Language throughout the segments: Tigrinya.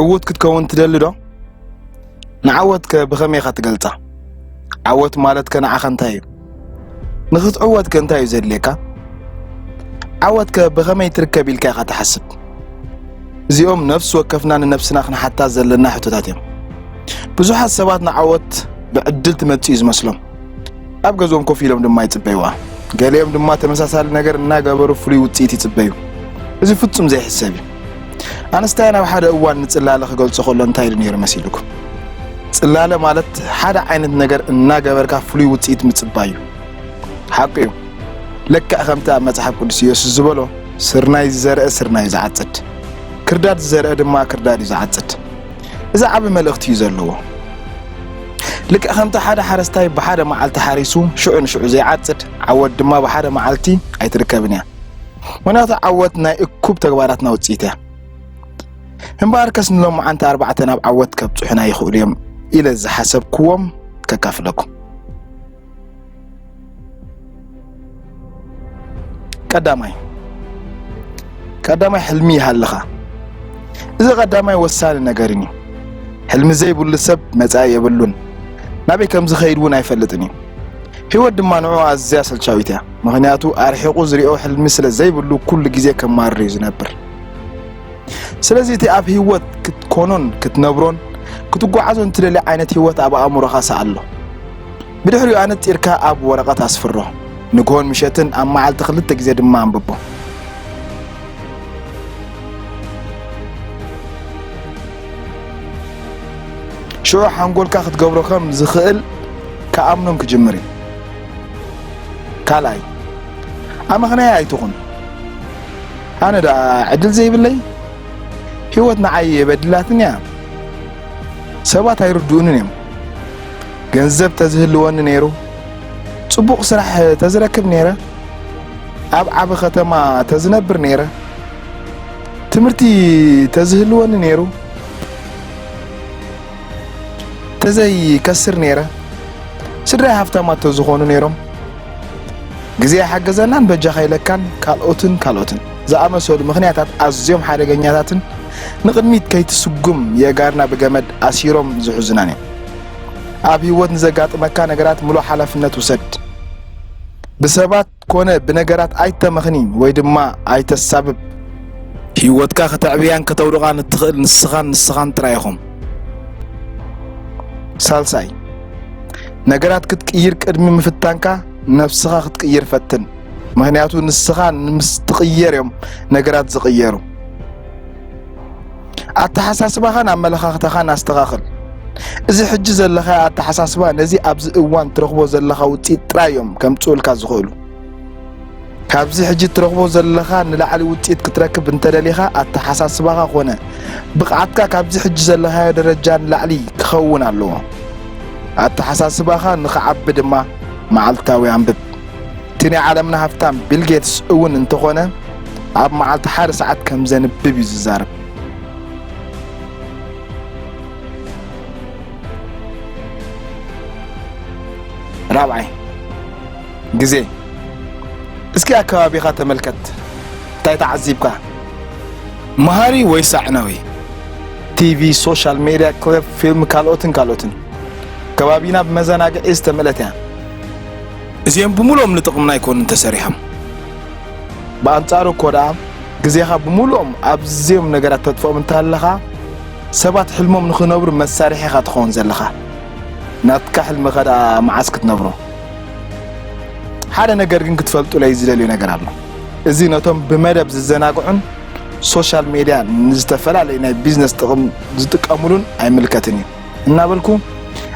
ዕዉት ክትከውን ትደሊ ዶ? ንዓወት ከ ብኸመይ ኢኻ ትገልጻ? ዓወት ማለት ከ ንዓኻ እንታይ እዩ? ንኽትዕወት ከ እንታይ እዩ ዘድልየካ? ዓወት ከ ብኸመይ ትርከብ ኢልካ ኢኻ ትሓስብ? እዚኦም ነፍሲ ወከፍና ንነብስና ክንሓታ ዘለና ሕቶታት እዮም። ብዙሓት ሰባት ንዓወት ብዕድል ትመጽእ እዩ ዝመስሎም። ኣብ ገዝኦም ኮፍ ኢሎም ድማ ይጽበይዋ። ገሊኦም ድማ ተመሳሳሊ ነገር እናገበሩ ፍሉይ ውጽኢት ይጽበዩ። እዚ ፍጹም ዘይሕሰብ እዩ። ኣንስታይን ኣብ ሓደ እዋን ንጽላለ ክገልጾ ከሎ እንታይ ኢሉ ነይሩ መሲልኩም? ጽላለ ማለት ሓደ ዓይነት ነገር እናገበርካ ፍሉይ ውጽኢት ምጽባይ እዩ። ሓቁ እዩ። ልክዕ ከምቲ ኣብ መጽሓፍ ቅዱስ ኢየሱስ ዝበሎ ስርናይ ዝዘርአ ስርናይ እዩ ዝዓጽድ፣ ክርዳድ ዝዘርአ ድማ ክርዳድ እዩ ዝዓጽድ። እዚ ዓቢ መልእኽቲ እዩ ዘለዎ። ልክዕ ከምቲ ሓደ ሓረስታይ ብሓደ መዓልቲ ሓሪሱ ሽዑ ንሽዑ ዘይዓጽድ፣ ዓወት ድማ ብሓደ መዓልቲ ኣይትርከብን እያ። ምኽንያቱ ዓወት ናይ እኩብ ተግባራትና ውጽኢት እያ። እምበኣርከስ ንሎማዓንቲ ኣርባዕተ ናብ ዓወት ከብጽሑና ይኽእሉ እዮም ኢለ ዝሓሰብክዎም ከካፍለኩም። ቀዳማይ ቀዳማይ ሕልሚ ይሃልኻ እዚ ቀዳማይ ወሳኒ ነገርን እዩ ሕልሚ ዘይብሉ ሰብ መጻኢ የብሉን ናበይ ከም ዝኸይድ እውን ኣይፈልጥን እዩ ህይወት ድማ ንዑ ኣዝያ ሰልቻዊት እያ ምክንያቱ ኣርሒቑ ዝሪኦ ሕልሚ ስለ ዘይብሉ ኩሉ ግዜ ከማርር እዩ ዝነብር ስለዚ እቲ ኣብ ህይወት ክትኮኖን ክትነብሮን ክትጓዓዞን ትደሊ ዓይነት ህይወት ኣብ ኣእምሮኻ ሰኣሎ ብድሕሪኡ ኣነጺርካ ኣብ ወረቐት ኣስፍሮ። ንግሆን ምሸትን ኣብ መዓልቲ ክልተ ግዜ ድማ ኣንብቦ። ሽዑ ሓንጎልካ ክትገብሮ ከም ዝኽእል ክኣምኖም ክጅምር እዩ። ካልኣይ ኣመኽናያ ኣይትኹን። ኣነ ደኣ ዕድል ዘይብለይ፣ ህይወት ንዓይ የበድላትኒ እያ፣ ሰባት ኣይርድኡንን እዮም። ገንዘብ ተዝህልወኒ ነይሩ ጽቡቕ ስራሕ ተዝረክብ ነይረ ኣብ ዓቢ ከተማ ተዝነብር ነይረ ትምህርቲ ተዝህልወኒ ነይሩ ተዘይከስር ነይረ ስድራይ ሃፍታማት ተዝኾኑ ነይሮም ግዜ ሓገዘናን በጃኻ ኢለካን ካልኦትን ካልኦትን ዝኣመሰሉ ምክንያታት ኣዝዮም ሓደገኛታትን ንቕድሚት ከይትስጉም የእጋርና ብገመድ ኣሲሮም ዝሕዙናን እዮም ኣብ ህይወት ንዘጋጥመካ ነገራት ምሉእ ሓላፍነት ውሰድ። ብሰባት ኮነ ብነገራት ኣይተመኽኒ ወይ ድማ ኣይተሳብብ። ህይወትካ ከተዕብያን ከተውድቓን እትኽእል ንስኻን ንስኻን ጥራይ ኢኹም። ሳልሳይ፣ ነገራት ክትቅይር ቅድሚ ምፍታንካ ነፍስኻ ክትቅይር ፈትን። ምኽንያቱ ንስኻ ንምስትቕየር እዮም ነገራት ዝቕየሩ። ኣተሓሳስባኻን ኣመለኻኽታኻን ኣስተኻኽል። እዚ ሕጂ ዘለኻዮ ኣተሓሳስባ ነዚ ኣብዚ እዋን ትረኽቦ ዘለኻ ውጽኢት ጥራይ እዮም ከምጽኡልካ ዝኽእሉ። ካብዚ ሕጂ እትረኽቦ ዘለኻ ንላዕሊ ውጽኢት ክትረክብ እንተደሊኻ ኣተሓሳስባኻ ኮነ ብቕዓትካ ካብዚ ሕጂ ዘለኻዮ ደረጃ ንላዕሊ ክኸውን ኣለዎ። ኣተሓሳስባኻ ንኽዓቢ ድማ መዓልታዊ ኣንብብ። እቲ ናይ ዓለምና ሃፍታም ቢል ጌትስ እውን እንተኾነ ኣብ መዓልቲ ሓደ ሰዓት ከም ዘንብብ እዩ ዝዛረብ። ራብዓይ ግዜ እስኪ ኣብ ከባቢኻ ተመልከት፣ እንታይ ተዓዚብካ? መሃሪ ወይስ ኣዕናዊ? ቲቪ፣ ሶሻል ሜድያ፣ ክለብ፣ ፊልም ካልኦትን ካልኦትን። ከባቢና ብመዘናግዒ ዝተመልአት እያ። እዚኦም ብምሉኦም ንጥቕምና ኣይኮኑን ተሰሪሖም። ብኣንጻሩ እኮ ደኣ ግዜኻ ብምሉኦም ኣብዚኦም ነገራት ተጥፍኦም እንተሃለኻ ሰባት ሕልሞም ንኽነብሩ መሳርሒ ኢኻ ትኸውን ዘለኻ። ናትካ ሕልሚ ከ ደኣ መዓስ ክትነብሮ? ሓደ ነገር ግን ክትፈልጡለይ ዝደልዮ ነገር ኣሎ። እዚ ነቶም ብመደብ ዝዘናግዑን ሶሻል ሜድያ ንዝተፈላለዩ ናይ ቢዝነስ ጥቕም ዝጥቀሙሉን ኣይምልከትን እዩ። እናበልኩ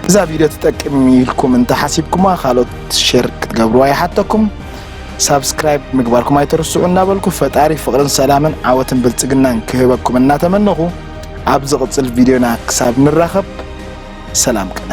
እዛ ቪድዮ ትጠቅም ኢልኩም እንተሓሲብኩማ ካልኦት ሼር ክትገብርዋ ይሓተኩም ሳብስክራይብ ምግባርኩም ኣይተርስዑ እናበልኩ ፈጣሪ ፍቕርን ሰላምን ዓወትን ብልፅግናን ክህበኩም እናተመነኹ ኣብ ዝቕፅል ቪድዮና ክሳብ ንራኸብ ሰላም ቅነ